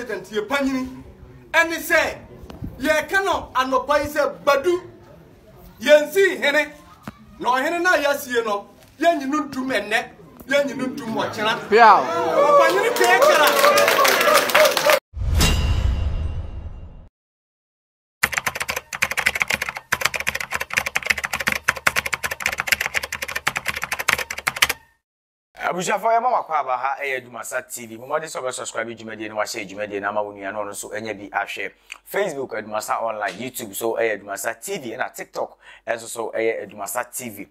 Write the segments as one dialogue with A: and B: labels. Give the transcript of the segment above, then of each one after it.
A: Adanseɛ pa nyini ɛne sɛ yɛka no anɔpa yi sɛ Badu yɛnsii hene na ɔhene no a yɛasie no yɛnyi no ntum ɛnnɛ yɛnyi no ntum ɔkyena ɔpanyini kɛɛ kara
B: Abusuafoɔ yɛma mo akwaaba, ha ɛyɛ Adwumasa TV, bɔ mmɔden sɛ wobɛ subscribe dwumadie na wahyɛ dwumadie no ama wo nua na ɔno nso anya bi ahwɛ. Facebook Adwumasa Online, YouTube so ɛyɛ Adwumasa TV ɛna TikTok ɛnso so ɛyɛ Adwumasa TV.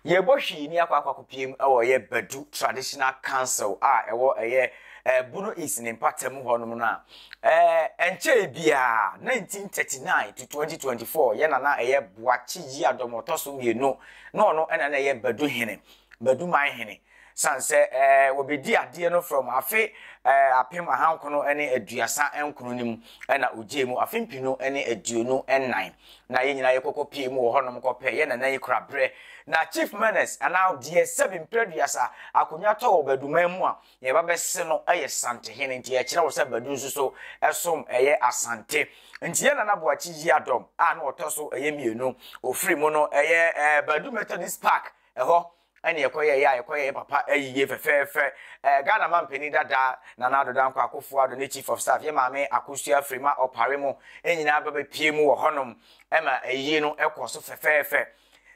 B: Yɛbɔ hwii ni akɔ akɔ akɔpiem ɛwɔ ɛyɛ Badu Traditional Council a ɛwɔ ɛyɛ eh, Bono East ne mpatamu hɔnom no a eh, ɛnkyɛe biara 1939 to 2024 yɛ nana ɛyɛ Boakye Yiadɔm ɔtɔ so mmienu na ɔno ɛna na ɛyɛ Badu hene. Baduman hene, sane sɛ ɛɛ wɔbɛdi adeɛ no from afe ɛɛ apem ahankono ne aduasa nkono no mu na ɔgyee mu afe mpenu ne aduonu nnan na yɛn nyinaa yɛkɔkɔ pie mu wɔ hɔnom kɔpɛ yɛn nana yi kora berɛ na Chief Menace anaa deɛ sɛbi mprɛduasa akonya tɔ wɔ Baduman mu a na yɛba bɛse no yɛ Sante hene nti ɛkyerɛ wo sɛ Badu nso so som ɛyɛ Asante nti yɛn nana Boakye Yiadom a na ɔtɔ so ɛyɛ mmienu ɔfiri mu no ɛyɛ ɛɛ Badu Methodist Park Ɛhɔ ne yɛkɔyɛeɛ a yɛkɔyɛɛ papa yie fɛfɛɛfɛ. Ɛɛ Ghana mampanin dada Nana Addo Dankwa Akufo Addo ne Chief of Staff yɛ Maame Akosua Afirima Opare mo nyinaa ba bɛpie mu wɔ hɔnom ma ayie no kɔɔ so fɛfɛɛfɛ.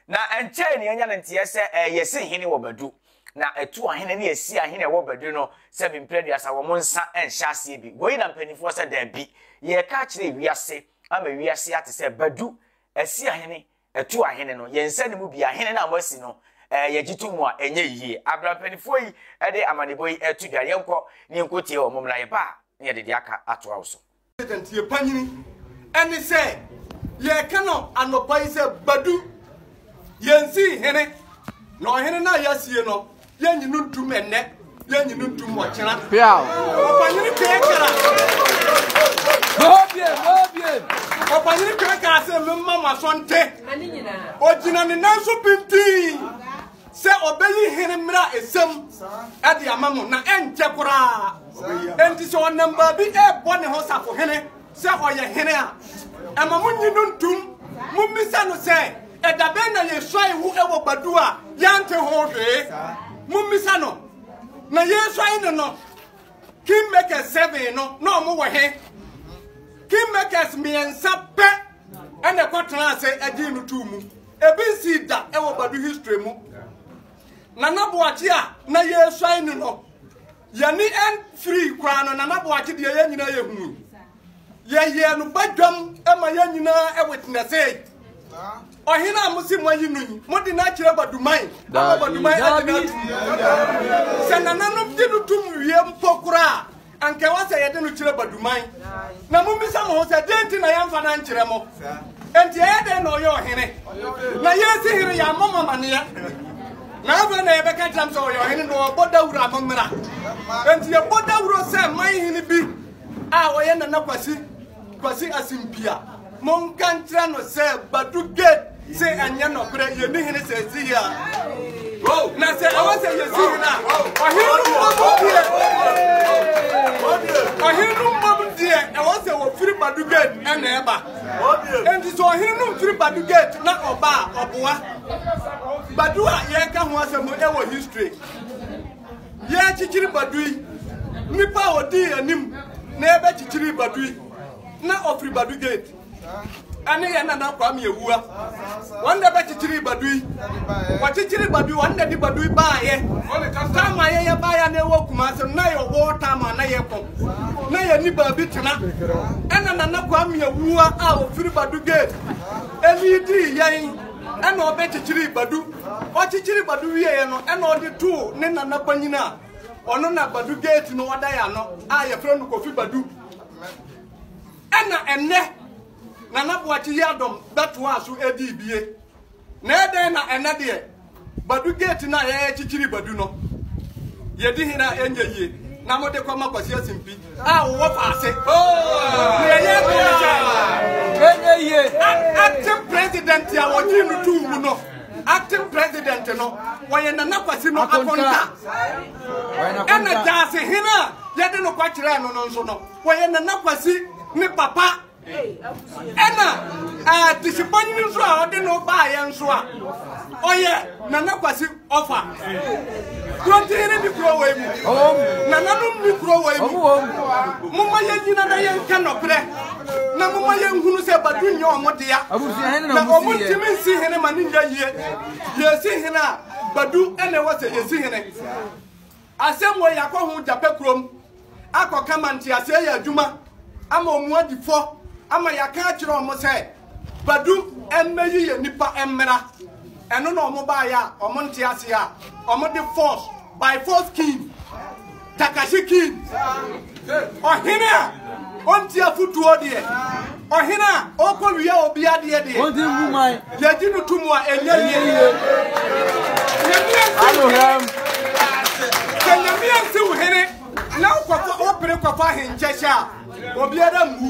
B: Na ɛnkyɛe na yɛanya no nteɛ sɛ ɛɛ yɛsi hene wɔ Badu. Na ɛtu ahene ne yɛsi ahene a ɛwɔ Badu no sɛ bi mprɛ aduasa wɔn nsa nhyɛ aseɛ bi. Wei na mpanimfoɔ sɛ daabi. Yɛreka akyerɛ wiase ama wiase ate sɛ Badu asi ahene Ɛto ahene no, yɛn nsa no mu biara, hene no a moasi no, eh, yɛgye to mu a, ɛnyɛ yie. Abra mpanimfoɔ yi de amanebɔ yi reto dwa, yɛnkɔ na yɛnkɔ tie wɔn, mmom na yɛba a, na yɛde deɛ aka atoa wo so. Adanseɛ panyini
A: ɛne sɛ, yɛreka no anɔpa yi sɛ, Badu, yɛnsii hene, na ɔhene no a yɛasie no, Yɛnyi no ntum ɛnnɛ, yɛnyi no ntum ɔkyena. Piaw. Ɔpanyini kɛkɛra. N'obie, n'obie. Ɔpanyini kɛkɛra sɛ mema mo asɔnte. Ogyina ne nan so pintinn sɛ ɔbɛyi hene mmira esam ɛde ama mo na ɛnkyɛ koraa. Enti sɛ ɔnam baabi ɛbɔ ne ho safohene Sɛ ɔyɛ hene a, ɛma mo nyi no ntom. Mommisa no sɛ, Ɛda bɛn na yɛsuae wo wɔ badu a yɛante ho hwee? Mommisa no, Na yɛresuae no no, kingmakers seven no, na ɔmo wɔ he? Kingmakers mmiɛnsa pɛ ɛna ɛkɔtena ase ɛgyee no too mu. Ebi nsii da ɛwɔ badu history mu. Nana Boakye a na yɛresuae no no, Y'ani ɛnfirii koraa no Nana Boakye deɛ yɛn nyinaa yɛ hui. Yɛyɛɛ no badwam ma yɛn nyinaa ɛwitnɛsee. Ɔhene a mosi mo ayi no yi, mo de no akyerɛ Baduman ama Baduman ɛde no atum. Sɛ nananom gye no tum wie mpo koraa, anka ɛwɔ sɛ yɛde no kyerɛ Baduman. Na mommisa mo ho sɛ, dɛn nti na yɛmfa no ankyerɛ mo? Enti ɛyɛ dɛn na ɔyɛ ɔhene? Na yɛn si hene yɛammɔ mo amaneɛ. Na afei na yɛbɛka kyerɛ m sɛ ɔyɛ ɔhene na ɔbɔ dawuro a mommra. Enti yɛbɔ dawuro sɛ man hene bi a ɔyɛ Nana Kwasi Kwasi Asimpia. Monka nkyerɛ no sɛ Badu Gate se ɛnyɛ nɔkorɛ yɛni hene sɛ ɛsi yɛ a. Na sɛ ɛwɔ sɛ yɛsi hene a, ɔhene no mmɔm deɛ ɔhene no mmɔm deɛ ɛwɔ sɛ wɔfiri Badu Gate ɛna ɛba. Enti sɛ ɔhene no mfiri Badu Gate na ɔba a ɔboa. Badu a yɛreka ho asɛm no ɛwɔ history. Yɛrekyekyere Badu yi, nipa a ɔdii anim na yɛbɛkyekyere Badu yi na ɔfiri Badu gate ɛne yɛn nana Kwame Awua. Wɔn na ɛbɛkyekyere Badu yi. Wɔkyekyere Badu, wɔn na ɛde Badu yi baayɛ. Taama yɛyɛ baayɛ na ɛwɔ Kumase no na yɛ ɔwɔ taama na yɛkɔ. Na yɛn ni baabi tena. Ɛna nana Kwame Awua a ɔfiri Badu gate ɛni dii yɛn. Ɛnna ɔbɛkyekyerii Badu. Ɔkyekyeree Badu wieeɛ no, ɛnna ɔde too ne nana panyin a ɔno na Badu gate no ɔda yɛ ano a yɛfrɛ no Kofi Badu. Ɛnna ɛnnɛ Nana Boakye Yiadom bɛtoaa so dii bie. Na ɛdɛn na ɛnnɛ deɛ Badu gate no a yɛrekyekyere Badu no, yɛdi he na ɛnyɛ yie na mode kɔma Kwasi Asimpi a wɔwɔ faase. Deɛ yɛreka ne sɛ ɛnyɛ yie. Acting president a wɔgye no to wu no, acting president no wɔyɛ Nana Kwasi no akonta. Ɛna daasehene a yɛde no kɔkyerɛɛ no no nso no, wɔyɛ Nana Kwasi ne papa. ɛna atisipanyin nso a ɔde no baayɛ nso a ɔyɛ nana kwasi ɔfa kurɔntin ne bi kuro wɔ emu nananom ne kuro wɔ emu moma yɛ nyina na yɛ nka nɔbrɛ na moma yɛ nhunu sɛ badu nyɛ ɔmo dea na ɔmo ntumi nsi hene ma ne nya yie yɛsi hene a badu ɛna ɛwɔ sɛ yɛsi hene Asɛm wei akɔ ho gyapɛ kurom akɔ ka ma nteaseɛ yɛ adwuma ama ɔmu adi fɔ ama yɛaka akyerɛ ɔmo sɛ Badu mmɛ yi yɛ nipa mmra ɛno na ɔmo baayɛ a ɔmo nteaseɛ a ɔmo de force by force king Takashi king. Ɔhene a ɔnti afotuo deɛ ɔhene a ɔkɔ wia obi adeɛ deɛ yɛgye no to mu a ɛnyɛ yie sɛ nyame ansi wo hene na wopere kɔfa ahenkyɛ hyɛ a obiara mmu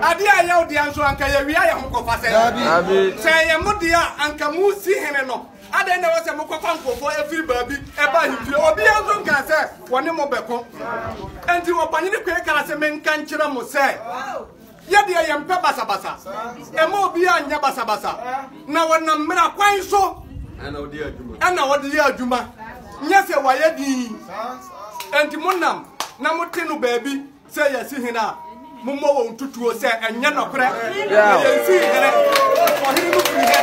A: adeɛ a ɛyɛ wo deɛ nso anka yɛwia yɛ ho kɔfa sɛ sɛ ɛyɛ mo deɛ a anka mu si hene no Adɛn na ɛwɔ sɛ mokɔfa nkurɔfoɔ firi baabi ba ahemfie? Obiara nso nkaa sɛ wɔne mo bɛko. Enti ɔpanyini koe kaa sɛ, Menka nkyerɛ mo sɛ, yɛ deɛ yɛmpɛ basabasa. Ɛma obiara nyɛ basabasa, na wɔnam mmara kwan so na wɔde yɛ adwuma, nyɛ sɛ wɔayɛ dinn. Enti monam na mote no baabi. Sɛ yɛsi hene a, mommɔ wɔn ntutuo sɛ ɛnyɛ nɔkorɛ. Na yɛnsii hene, ɔhene no firi hɛ.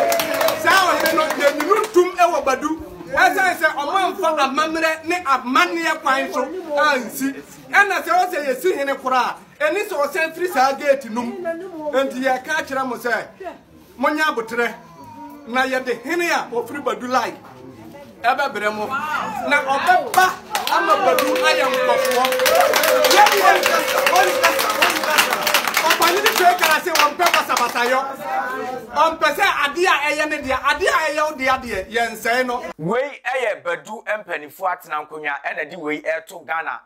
A: Saa ɔhene no, yɛnyi no ntom wɔ Badu, ɛsiane sɛ ɔmamfa amammerɛ ne amanneɛ kwan so ansi. Ɛnna sɛ ɔsɛ yɛsi hene koraa a, ɛne sɛ ɔsan firi saa geeti no mu. Enti yɛka kyerɛ mo sɛ. Monyɛ aboterɛ, na yɛde hene a ɔfiri Badu Lai ɛbɛbrɛ mo, na ɔbɛba ama Badu ayɛ nkɔfoɔ. Yɛde yɛn kasa, wɔn kasa, wɔn kasa. Ɔpani ne twɛ gara sɛ wɔmpɛ basabasayɔ. Ɔmpɛ sɛ adeɛ a ɛyɛ ne deɛ, adeɛ a ɛyɛ wo deɛ deɛ, yɛnsɛe no. Wei yɛ Badu
B: mpaninfoɔ atena nkonwa na ɛde wei reto Ghana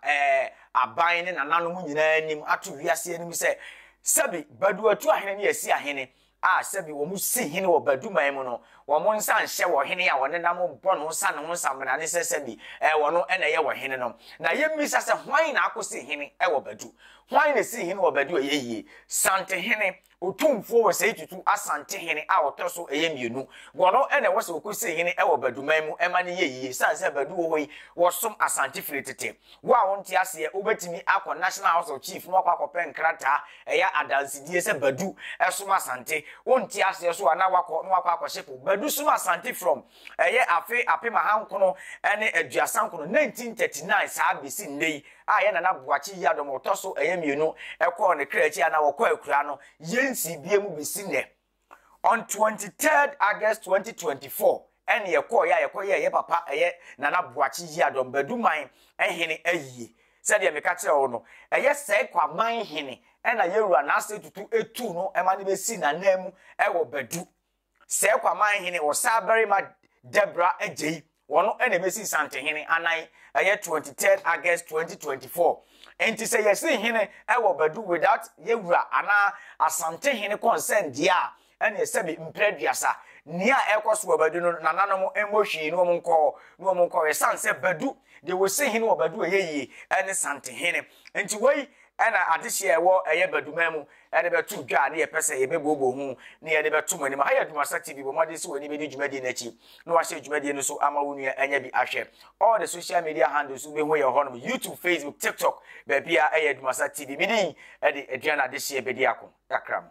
B: aban ne nananom nyinaa anim ato wiase anim sɛ Sɛbi, Badu atu ahene ne asi ahene a sɛbi wɔn si hene wɔ Badu man mu no, wɔn nsa nhyɛ wɔ hene a wɔne nam bɔ no sa no ho samina ne sɛ sɛbi ɛyɛ wɔn no na ɛyɛ wɔ hene no. Na yɛmmisa sɛ hwan na akosi hene wɔ Badu? Hwan na ɛsii hene wɔ Badu a ɛyɛ yie? Santehene, Otumfuo Osei Tutu Asante hene a ɔtɔ so ɛyɛ mmienu. Wɔn no na ɛwɔ sɛ wɔkɔsi hene wɔ Badu man mu ma no yɛ yie, ɛsiane sɛ Badu wɔ hɔ yi wɔsom Asante firi tete. Wo a wonte aseɛ, wobɛtumi akɔ National House of Chief na wakɔ akɔpɛ nkrataa ɛyɛ adansedie sɛ Badu ɛsom Asante. Wonte aseɛ nso a na wakɔ na wakɔ akɔhyepo Badu som Asante from ɛyɛ afe apem ahankono ne aduasa nkono, 1939, saa bɛsi nnɛ yi a ɛyɛ Nana Boakye Yiadom ɔtɔ so ɛyɛ mmienu ɛkɔɔ ne kra akyi a na wɔkɔ akuraa no. Yɛnsii biam bɛsi nnɛ. on twenty third august twenty twenty four ɛna yɛkɔɔ yɛ a yɛkɔ yɛ yɛ papa ɛyɛ nana buakye yi adɔm baduman ɛhene ayie sɛdeɛ meka kyerɛ wo no ɛyɛ sɛe kwaman hene ɛna yɛwura n'ase tutu etu no ɛma ne bɛsi n'anan mu ɛwɔ badu sɛe kwaman hene wɔ saa barima dɛbra agye yi Wɔn na ɛbɛsi Nsantehene anan, ɛyɛ twenty third August twenty twenty four. Enti sɛ yɛsi hene wɔ Badu without yɛ wura anaa Asantehene consent deɛ a, ɛneɛ sɛbe mprɛ aduasa. Nea ɛrekɔ so wɔ Badu no, nananom mmɔ hwii na wɔn nkɔ hɔ na wɔn nkɔ hɔ. Ɛsiane sɛ Badu, deɛ wɔsi hene wɔ Badu a ɛyɛ yie ne Santehene. Enti wei na adehyeɛ a ɛwɔ ɛyɛ Baduman mu de bɛto dwa a na yɛpɛ sɛ yɛbɛbooboo ho na yɛde bɛto mo anim. Ha yɛ Dwumasa TV, bɔ mmɔden sɛ w'ani bɛdi dwumadie no akyi na wahyɛ dwumadie no so ama wo nua anya bi ahwɛ. All the social media handles wobɛhu yɛn hɔnom, YouTube, Facebook, TikTok, baabiara ɛyɛ Dwumasa TV. Me din de Aduana Adehyeɛ Bediako, kakra mu.